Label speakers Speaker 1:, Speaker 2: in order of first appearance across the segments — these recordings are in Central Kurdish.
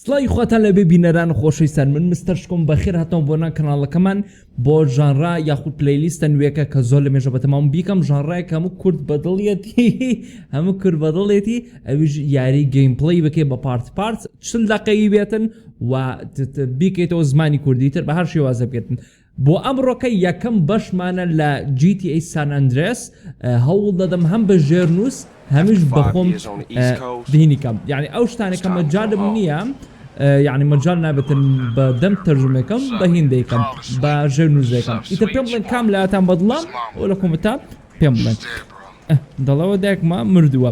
Speaker 1: سڵاوی خواتان لەبێ بینەران خۆشەویستان من مستەر شکۆم بەخێر هاتنەوە بۆ نان کەناڵەکەمان بۆ ژانرا یاخود پلەیلیستە نوێکە کە زۆر لە مێژە بەتەمام بیکەم ژانرای کە هەموو کورد بەدڵیەتی هەموو کورد بەدڵێتی ئەویش یاری گەیم پڵی بکەی بە پارت پارت چل دەقەیی بێتن و بیکەیتەوە زمانی کوردی تر بە هەر شێوازە بکەن بۆ ئەمڕۆکە یەکەم بەشمانە لە GTA San Andreas هەوڵ دەدەم هەم بە ژێرنووس هەمیش بەخۆم بینی کەم یعنی ئەو شتانە کە مەجالم نییە یعنی مەجال نابێتن بە دەم تەرجمەکەم بە هیندەیکەم بە ژێرنووسەکەم ئیتر پێم بڵێن کام لاتان بەدڵە ئەو لە کۆمەتا پێم بڵێن دەڵەوە دایکمە مردووە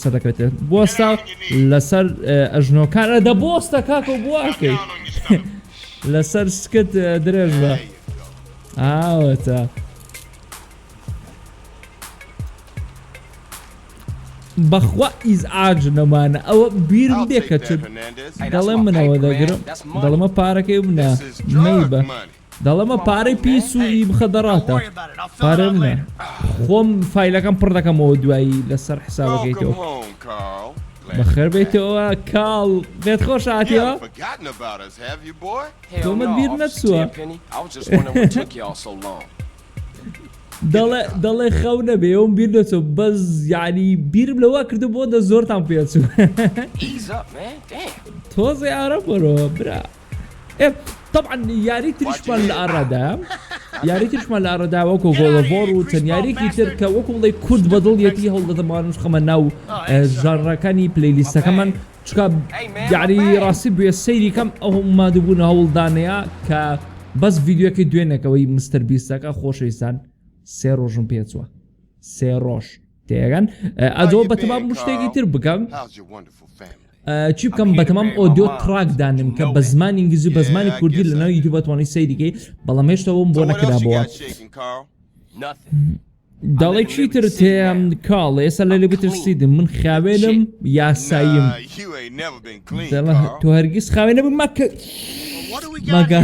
Speaker 1: سەردەکەوێتێ بۆستە لەسەر ئەژنۆکان ئەدە بۆستە کاکە و بواکەی لەسەر سکت درێژ بە ئاوەتە بەخوا ئیزعاج نەمانە ئەوە بیرم دێ کە چ دەڵێ منەوە دەگرم دەڵمە پارەکەی بنە مەی بە دەڵێمە پارەی پیس و ی بخە دەڕاتە پارە منە خۆم فیلەکەم پڕ دەکەمەوە دوایی لەسەر حسابەکەیتەوە بەخێر بێتەوە کاڵ بێت خۆش هاتیەوە تۆمە بیر نەچووە دەڵێ دەڵێ خەو نەبێ ئەوم بیر دەچۆ بەس یعنی بیرم لەوە کردو بۆ دە زۆرتان پێچوو تۆزێ ئارە بەرەوە برا تەبعەن یاری تریشمان لە ئارادایە یاری تریشمان لە ئارەدا وەکو گۆڵەڤۆر و چەند یاریێکی تر کە وەکو بڵێ کورد بەدڵ یەتی هەوڵدەدەمانش خەمە ناو ژانڕەکانی پلیلیستەکەمان چکا یاری ڕاستی بێ سەیری کەم ئەو مادوبوون هەوڵدانەیە کە بەس ڤیددیوەکەی دوێنێکەوەی مستەر بیستەکە خۆشەویستان سێ ڕۆژم پێچوە سێ ڕۆژ تێگەن ئەدۆ بەتەمام شتێکی تر بکەم چی بکەم بەتەمام ئۆدیۆ تراک دانم کە بە زمانی ئینگلیزی بە زمانی کوردی لە ناو یوتیوب توانی سەیریکەی بەڵام هێشتەوەم بۆ نەکرابەوە دەڵێ چی تر تێم کاڵ ئێستا لە لێ بترسیدم من خاوێنم یاساییم تۆ هەرگیز خاوێنە بم مەکە مەگە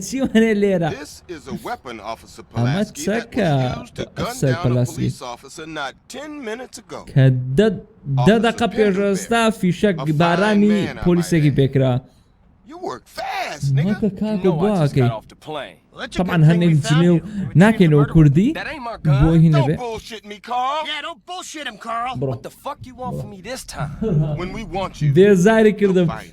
Speaker 1: چی وانێ لێرە ئەمە چەکە ئەفسەر پەلاسکی کە دە دەقە پێش ئێستا فیشەک بارانی پۆلیسێکی پێکرا مەکە کاکە گواکەی طبعا هەنێک جنێو ناکەینەوە کوردی بۆ هی نەبێ بڕۆ. بێزاری کردم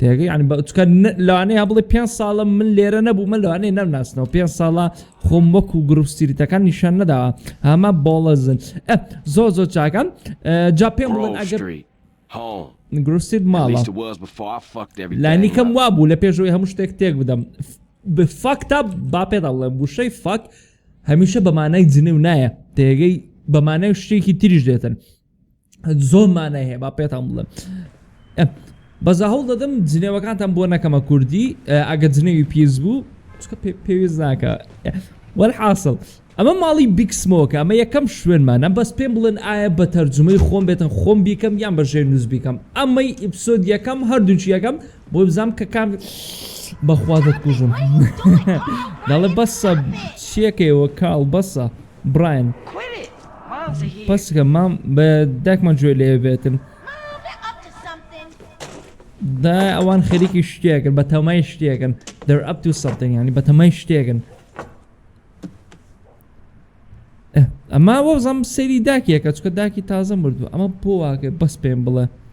Speaker 1: تێگەی یعنی بە چکە لەوانەیە یا بڵێ پێنج ساڵە من لێرە نەبوومە لەوانەیە نەمناسنەوە پێنج ساڵە خۆم وەکو گروپ سیریتەکان نیشان نەداوە هەمە بۆڵەزن زۆ زۆ چاکەم جا پێم بڵێن ئەگەر گروسید ماڵە لانیکەم وابوو لە پێشەوەی هەموو شتێک تێک بدەم بفاکتا با پێدا بڵێ گوشەی فاک هەمیشە بەمانای جنێو نایە تێگەی بەمانای شتێکی تریش دێتن زۆر مانای هەیە با پێتان بڵێم بەزا هەوڵ دەدەم جنێوەکانتان بۆ نەکەمە کوردی ئەگە جنێوی پیس بوو چکە پێویست ناکە وەل حاصل ئەمە ماڵی بیکسمۆکە ئەمە یەکەم شوێنمانە بەس پێم بڵێن ئایا بە تەرجمەی خۆم بێتە خۆم بیکەم یان بە ژێر نووس بیکەم ئەمەی ئیپسۆد یەکەم هەردووچ یەکەم بۆ بزانام کە کام بەخوازت کوژم دەڵێ بەسە چیەکەیەوە کاڵ بەسە براین پسکە مام بە داکمان جوێ لێ بێتن دا ئەوان خەریکی شتێکن بە تەمای شتێکن دەر ئەپ تو سەڵتن ینی بە تەمای شتێکن ئەما وەزەم سەیری داکیەکە چکە داکی تازە مردو ئەمە بۆ واکە بەس پێم بڵێ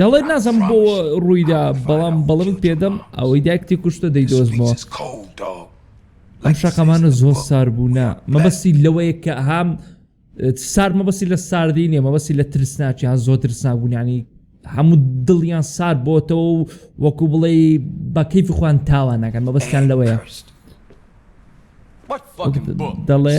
Speaker 1: دەڵێت نازانم بۆ ڕوویدا بەڵام بەڵمت پێدەم ئەوەی دایکتی کوشتە دەی دۆزمەوە ئەم شەقەمانە زۆر سار بوونا مەبەستی لەوەیە کە هام سار مەبەسی لە ساردی نیە مەبەسی لە ترسناچیان زۆر ترسنابوونیانی هەموو دڵیان سار بۆتەوە و وەکو بڵێ بەکەیف خوان تاوان ناکەن مەبەستیان لەوەیە دەڵێ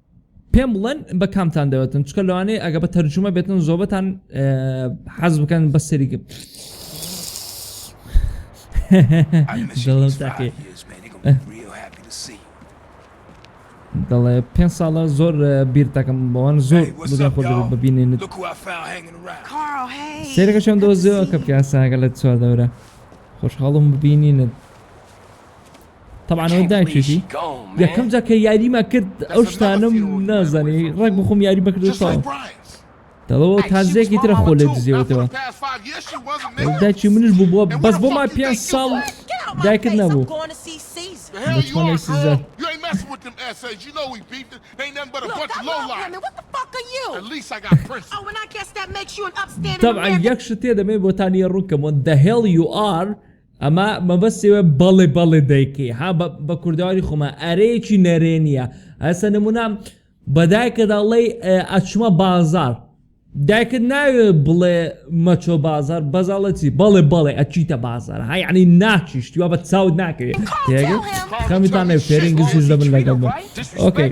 Speaker 1: پێم بڵێن بە کامتان دەوێتن چکە لەوانەیە ئەگە بە تەرجومە بێتن زۆبەتان حەز بکەن بە سەریگە دەڵێ پێ ساڵە زۆر بیر دەکەم بەوان زۆر خۆ ببینێن سێرەکە چۆن دۆزیەوە کە پیاساگە لە چوار دەورە خۆشحاڵم ببینینت تەبعەن ئەوە دایکیشی یەکەم جا کە یاریمە کرد ئەو شتانم نازانی ڕێک بخۆم یاری بەکردو تەواو دەڵەوە تازێکی ترە خۆ لێ دزیەوەتەوە داکی منش بوو بووە بەس بۆ ما پێ ساڵ دایکت نەبوو تەبعەن یەک شتێ دەمێ بۆتانیە ڕووکەمەوە دەهێڵ یو ئار ئەمە مەبەستی وە بەڵێ بەڵێ دەیکەی ها بە کوردەواری خۆمە ئەرەیەکی نەرێنیە هەسە نمونە بەدایکە دەڵی ئەچمە بازار دایکت ناوێ بڵێ مەچۆ بازار بەزاڵەتی بەڵێ بەڵێ ئەچیتە بازار های عنی ناچیشت یا بە چاوت ناکرێت خەمیتان نێ فێرین گزیش دەبن لەگەڵ بۆ ئۆکەی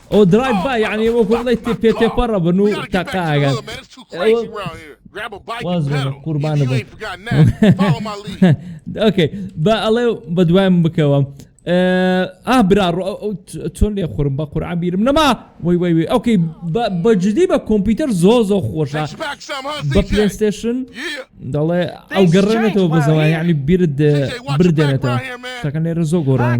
Speaker 1: ئەوە درایڤ بای یانی وەکو بڵێی تێپێ تێپە ڕەبن و تەقاگەن واز بێنە قوربانە بم ئۆکەی بە ئەڵێ بە دوایم بکەوە ئا برا چۆن لێ خورم بە قورعان بیرم نەما وی وی وی ئۆکەی بەجددی بە کۆمپیوتەر زۆ زۆ خۆشە بە پلستشن دەڵێ ئەو گەڕێنێتەوە بە زەوایانی بیرت بردێنێتەوە شەکە نێرە زۆ گۆڕان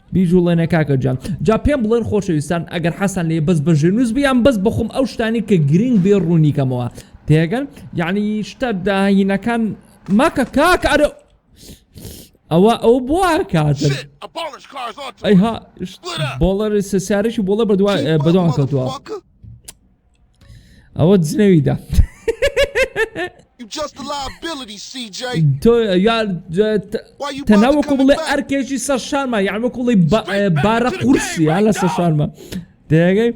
Speaker 1: بیجوڵێنە کاکە گیان. جا پێم بڵێن خۆشەویستان ئەگەر حەزتان لێیە بەس بە ژێرنووس بێ یان بەس بەخۆم ئەو شتانەی کە گرینگ بێ ڕوونی کەمەوە تێگەن یانی شتە داهینەکان مەکە کاکە ئەرە ئەوە ئەو بووە کاتن ئەیها بۆڵەر سسیارێکی بۆڵە بەدوای بەدوام کەوتووە ئەوە جنەویدا تۆ یار تەناوەکو بڵێ ئەرکێکی سەر شارمە یان وەکو بڵی بارە قورسی یا لەسەر شارمە دەگەی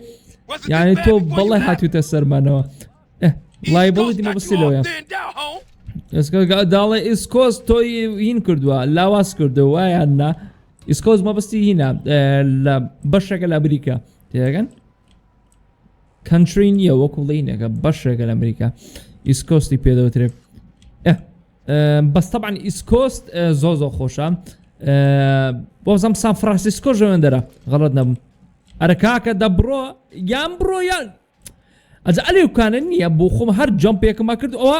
Speaker 1: یعنی تۆ بەڵێ هاتوتە سەرمانەوە لای بڵی دیمە بسی لەوەیە ئێسکەگە داڵێ ئیسکۆس تۆی هین کردووە لاواز کردەوە وایان نا ئیسکۆز مەبستی هینە لە بەشەکە لە بریکە تێگەن کەنتری نییە وەکو لینەکە بەشێکە لە ئەمریکا ئیسکۆستی پێدەوترێت بەس طبعا ئیسکۆست زۆ زۆ خۆشە بۆزم سان فرانسیسکۆ ژەوێندەرە غەڵت نەبوو ئەرە کاکە دەبڕۆ یان بڕۆ یان ئەجا ئەلێکانە نییە بۆ خۆم هەر جەم پێکمە کرد ئەوە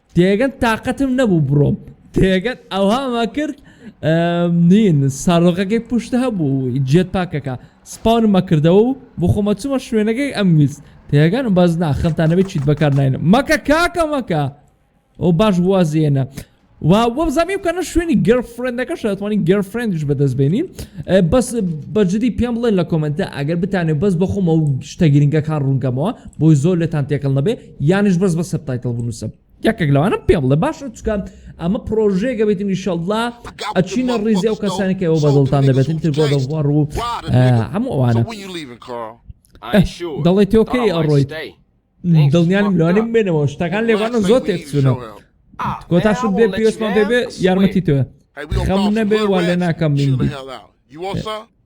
Speaker 1: تێگەن تاقەتم نەبوو بڕۆم تێگەن ئەوهاما کرد نین سارۆقەکەی پشت هەبوو جێت پاکەکە سپاون مەکردەوە و بۆ خۆمە چوومە شوێنەکەی ئەم ویست تێگەن و بەس ناخەمتانەوەی چیت بەکار ناینە مەکە کاکە مەکە ئەو باش وازێنە وا وەم زەمی بکەنە شوێنی گەرفرێندەکە شەتوانی گەرفرێندش بەدەست بێنین بەس بەجددی پێم بڵێن لە کۆمنتە ئەگەر بتانێت بەس بەخۆمە و شتە گرنگەکان ڕوونگەمەوە بۆی زۆر لێتان تێکەڵ نەبێ یانش بەس بە سەر تایتڵ بنووسە یەکێک لەوانە پێ بڵێ باشە چکان ئەمە پرۆژەیەگە بێتین نیشەڵدا ئەچینە ڕیزی ئەو کەسانێکی ئەو بەدڵتان دەبێتن تر بۆ دەوار و هەموو ئەوانە دەڵێ تۆکەی ئەڕۆیت دڵنیانم لەوانێ بێنەوە شتەکان لێوانە زۆر تێکچوونەوە کۆتاش بێ پێشمان پێ بێ یارمەتی تۆە خەم نەبێ وا لێ ناکەم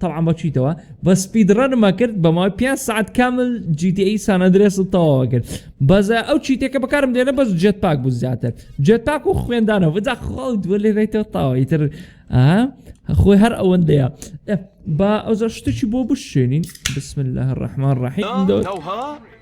Speaker 1: تەبعەن بە چیتەوە بە سپید ڕەنمە کرد بەماوەی پێ سعات کامل جیتیئی سانەدرێس و تەواوە کرد بەزە ئەو چیتێکە بەکارم دێنە بەس جێت پاک بوو زیاتر جێت پاک و خوێندانە بەجا خاڵ دووە لێ بێتەوە تاوە ئیتر خۆی هەر ئەوەندەیە با ئەوزە شتێکی بۆ بشێنین بسم الله الرحمن الرحیم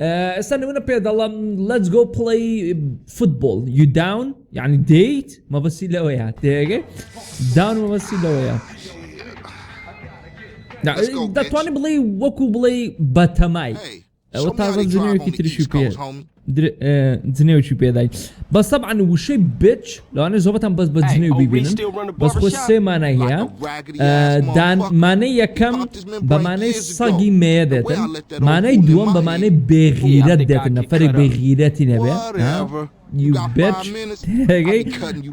Speaker 1: ئێستا نمونە پێ دەڵم لەج گۆ پڵی فوتبۆل یو داون یعنی دیت مەبەسی لەوەیە تێگە داون مەبەسی لەوەیە دەتوانانی بڵێ وەکو بڵێ بەتەمای ئەوە تا جنێوێکی تریشی پێ جنێوکی پێدای بە سەبعان وشەی بچ لەوانە زۆبەتان بەس بە جنێو ببینن بەس خۆ سێمانای هەیە دانمانە یەکەم بە مانای سەگی مێیە دێتن مانای دووەم بە مانای بێغیرەت دێتن نەفەرێک بێغیرەتی نەبێ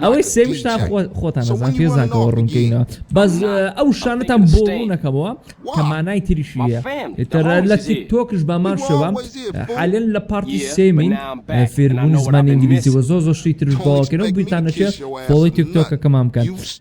Speaker 1: ئەوەی سێویشتان خۆتان نەزان پێزانکەەوە ڕوونکەینەوە بەس ئەو شانتان بۆ ڕوونەکەمەوە کە مانای تریشیە تەرە لە تۆکش بامان شەوە حالن لە پارتی سێمین فێربوونی زمانی ئینگلیزی وە زۆ زۆشتی ترش باوەکەەوە بیتانەشێت بۆڵی تۆکەکەمان بکەن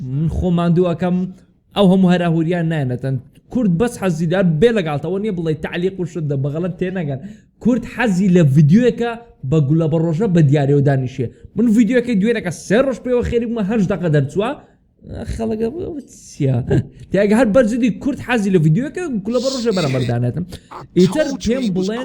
Speaker 1: من خۆم ماندوو ئەکەم ئەو هەموو هەراهوریان نایەنەتەن کورد بەس حەزی دار بێ لەگەڵ تەوە نیە بڵێ تعلیق و شدە بەغەڵەت تێنەگەن کورد حەزی لە ڤیدیۆیەکە بە گولە بە ڕۆژە بە دیارەوە دانیشێ من ڤیدیۆەکەی دوێنەکە سێ ڕۆژ پێوە خێری بوومە هەشت دەقە دەرچووە خەڵەکە چیە تاگە هەر بەرجدی کورد حەزی لە ڤیددیوەکە گولە بە ڕژە بەرەمەردانێتم ئیتر پێم بڵێن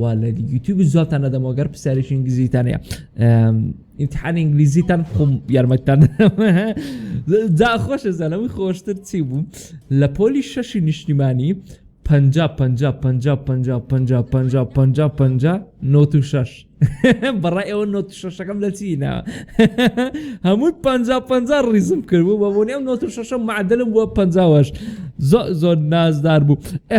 Speaker 1: والە یوتیوب زۆرتان نەدەمەوە گەر پرسیارێکی ئینگلیزیتان هەیە ئینتحان ئینگلیزیتان خۆم یارمەتتان جا خۆشە زانەوەی خۆشتر چی بوو لە پۆلی شەشی نیشتیمانی پ پ پ پ پ نۆ شش بەڕای ئەوە نۆ شەشەکەم لە چینە هەمووی پ پ ڕیزم کردبوو بە بۆنی ئەم نۆ شەشە معدلم بووە پەنجاوەش زۆ زۆر نازدار بوو ئە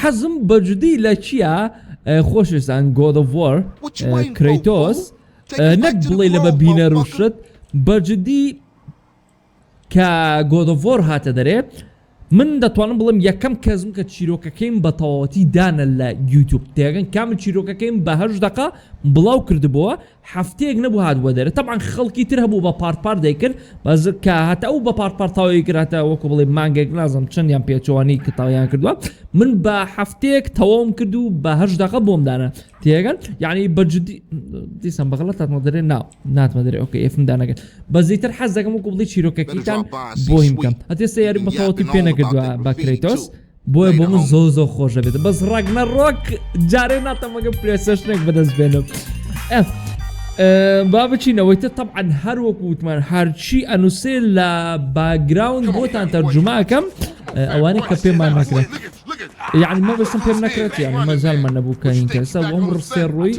Speaker 1: حەزم بەجدی لە چیا خۆشویستان گۆد ئۆف وار کرەیتۆس نەک بڵێ لە بە بینەر و شت بەجدی کە گۆد ئۆف وار هاتە دەرێ من دەتوانم بڵێم یەکەم کەسم کە چیرۆکەکەیم بە تەواوەتی دانە لە یوتیوب تێگەن کامل چیرۆکەکەیم بە هەشت دەقە بڵاو کردبووە هەفتەیەک نەبوو هاتبوە دەرێ تەبعەن خەڵکی تر هەبوو بە پارت پارت دەیکرد بەس کە هەتا ئەو بە پارت پارت تەواوی کرد هەتا وەکو بڵێ مانگێک نازم چەندیان پێچەوانەی کە تەواویان کردووە من بە هەفتەیەک تەواوم کرد و بە هەشت دەقە بۆم دانا تێگەن یعنی بە جدی دیسان بەغڵەت هاتمە دەرێ نا ناتمە دەرێ ئۆکە ئێفم دانەکەن بە زیتر حەز دەکەم وەکو بڵێ چیرۆکەکەیتان بۆیم بکەم هەتێ سەیاری بەتەواوەتی پێ نەکردووە بە کرێتۆس بۆیە بۆ من زۆ زۆ خۆش دەبێت بەس ڕاک نە ڕۆک جارێ ناتەمەگە پرێسەشنێک بەدەست بێنم ئەف با بچینەوەی تە تەعاان هەر وەک وتمان هەرچی ئەنووسێ لە باگراون بۆتان تەرجوماکەم ئەوانی کە پێمان نەکرێت یعنی مە بەسم پێم نەکرێت یعنی مەزالمە نەبووکەین کەسە وەم ڕسێ ڕووی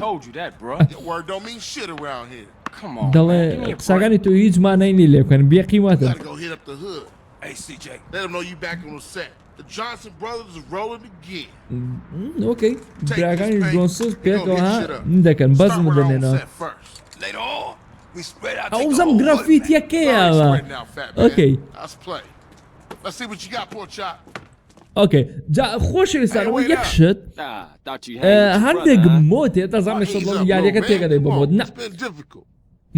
Speaker 1: دەڵێ قسەکانی تۆ هیچ مانەی لێ لێکەن بێقیمەتە ئۆکەی براکانی جۆنسز پێکەوە ها دەکەن بەزم دەنێنەوە ئەوزەم گرافیت یەکەیەوە ئۆکەی ئۆکەی جا خۆشەویستان ئەوە یەک شت هەندێک مۆتێ دەزانێت یاریەکە تێگەدەی بۆ مۆت نە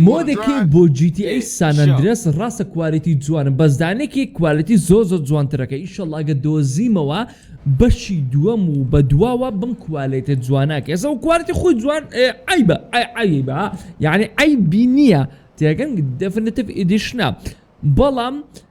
Speaker 1: مۆدێکی بۆ جی تی ئەی سانئەندرێس ڕاستە کوالێتی جوانە بەس دانێکی کوالێتی زۆر زۆر جوانترەکە ئیشەڵا ئەگەر دۆزیمەوە بەشی دووەم و بە دواوە بم کوالێتێ جوانە کە ئێستا کوالێتی خۆی جوان عەیبە عەیبە یعنی عەیبی نییە تێگەن دێفنتیڤ ئیدیشنە بەڵام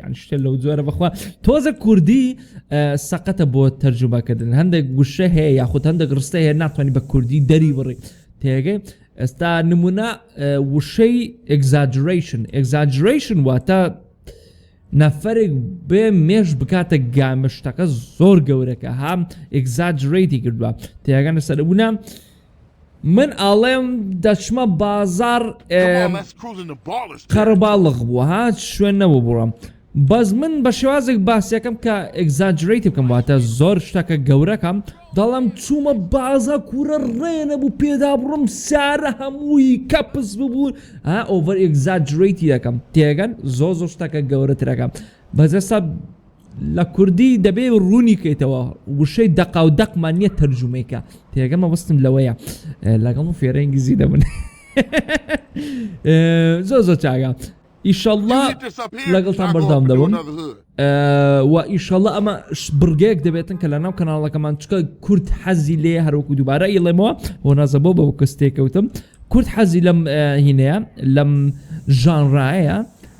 Speaker 1: یان شتە لەو جۆرە بەخوا تۆزە کوردی سەقەتە بۆ تەرجوبەکردن هەندێک گوشە هەیە یاخود هەندێک ڕستە هەیە ناتوانانی بە کوردی دەری بڕی تێگەی ئێستا نمونە وشەی ئەگزاجرشن ئەگزاجرشن واتە نەفرێک بێ مێش بکاتە گامشتەکە زۆر گەورەکە هام ئەگزاجرەیتی کردووە تێگەنە سەربوونە من ئەڵێم دەچمە بازار قەرەباڵغ بوو ها شوێن نەبوو بڕۆم بەس من بە شێوازێک باسیەکەم کە ئەگزاجرەیتی بکەم واتە زۆر شتەکە گەورەکەم دەڵم چوومە بازە کوورە ڕێ نەبوو پێدا بڕم سارە هەمووی کەپس ببوون ها ئۆڤەر ئەگزاجرەیتی دەکەم تێگەن زۆ زۆ شتەکە گەورەترەکەم بەجەستا لە کوردی دەبێ ڕوونی کەیتەوە وشەی دەقا و دەقمان نییە تەرجومەیکە تێگە مەبستم لەوەیە لەگەڵ و فێرە ئینگلیزی دەبن زۆ زۆ چاگە ئیشەڵڵا لەگەڵتان بەردام دەبم و ئیشەڵە ئەمە بڕگەیەک دەبێتن کە لە ناو کەناڵەکەمان چکە کورد حەزی لێ هەروکو دووبارە ئیڵێمەوە بۆ نازە بۆ بە کەس تێکەوتم کورد حەزی لەم هینەیە لەم ژانڕایە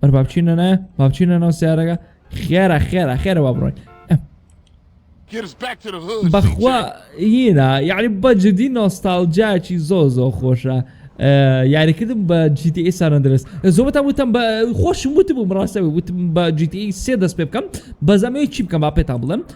Speaker 1: بەر بابچینە نایە بابچینە ناو سیارەکە خێرە خێرە خێرە با بڕۆین بەخوا هینا یعنی بە جدی نۆستالجاچی زۆ زۆ خۆشە یاریکردم بە جیتی ساندرس زۆبەتە وتم بە خۆشم وتبوو ڕاستەوە وتم بە جیتی سێ دەست پێ بکەم بەزەمەیە چی بکەم با پێتان بڵم